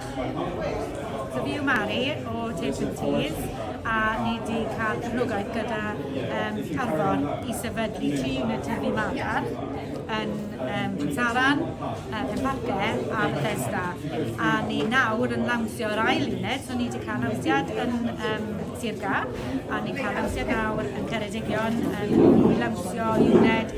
Dw i yw Mari o Taste and Teas a ni wedi cael cefnogaeth gyda um, Carfon i sefydlu tri unit tyfu madarch yn um, Pensaran, uh, Penparce a Bethesda. A ni nawr yn lawnsio'r ail unit, so ni wedi cael lawnsiad yn um, Sirga a ni'n cael lawnsiad nawr yn Ceredigion yn lawnsio uned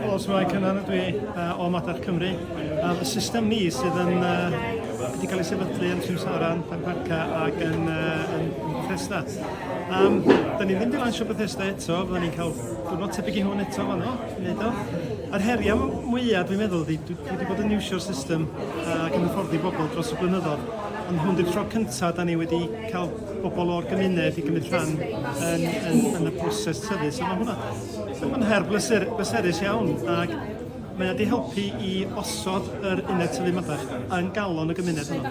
Helo, Symai Cynan ydw i uh, o Madarch Cymru. Um, y system ni sydd yn uh, wedi cael ei sefydlu yn Simsaran, Parca ac yn, uh, yn, yn Bethesda. Um, da ni'n mynd i lansio Bethesda eto, fydda ni'n cael gwrnod tebyg i hwn eto fanno, wneud o. Yr heriau mwyaf dwi'n meddwl, dwi, dwi wedi bod yn iwsio'r system uh, ac yn hyfforddi bobl dros y blynyddoedd, ond hwn di'r tro cyntaf da ni wedi cael bobl o'r gymuned i gymryd rhan yn, yn, yn y proses tyfu. So mae hwnna, mae'n her bleser, bleserus iawn ac mae wedi helpu i osod yr uned tyfu madarch yn galon y gymuned hwnnw.